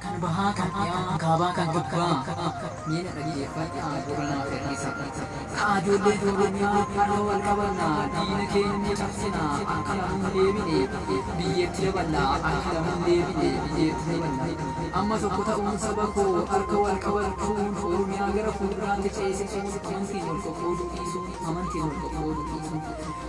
kan bahaa kan dhiyaa kaabaa kan kibbaa miina dhaggeeffadhaa gurranaa fedhiisa kaa ijoollee tooranyaa har'a wal qabannaa diina keenya cabsinaa akka lamuun deebine biyyeetti daballaa akka lamuun deebine biyyeetti daballaa amma tokko ta'uun saba koo harka wal qabachuun oromiyaa gara fuulduraatti ceesisuun amantiin wal qoqqooduu dhiisuun amantiin wal qoqqooduu dhiisuun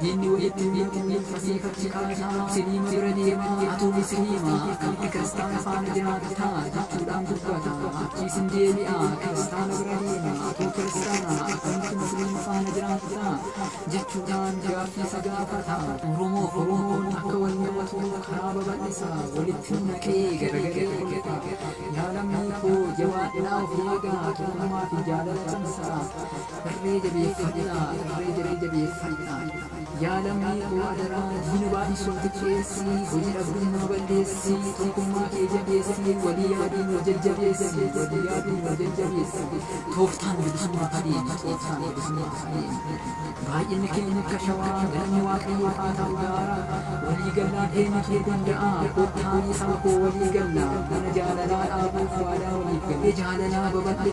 Diinni walitti hin hidhamu fasii fakkii qaanaa siniima bira deema atuumi siniima akkamitti kiristaana faana jiraata jechuudhaan dubbata achiis hin deebi'a kiristaana bira deema atuu kiristaana akkamitti musliima faana jiraata jechuudhaan gaaffii isa gaafata oromoo oromoon akka wal nyaatu karaa babal'isa walitti nu naqee garagalee kolfa yaa lammii koo jabaadhaa of eegaa tokkummaa fi jaalala cimsaa Irree jabeeffadhaa, irree jabe jabeeffadhaa. Yaa lammii koo adaraa diina baay'isuun xiqqeessi, hojii dhabdummaa balleessi, tokkummaa kee jabeessi, walii yaaduun wal jajjabeessi, walii yaaduun wal jajjabeessi. Tooftaan bilisummaa adeemi, tooftaan bilisummaa adeemi. Baay'inni keenya akka shawaa, galanni Waaqayyoo haa ta'u gaara. Walii gallaa eenyutu danda'a? Kottaa isaa koo walii gallaa, mana jaalalaa dhaabuuf waadaa waliif galle jaalalaa babal'e.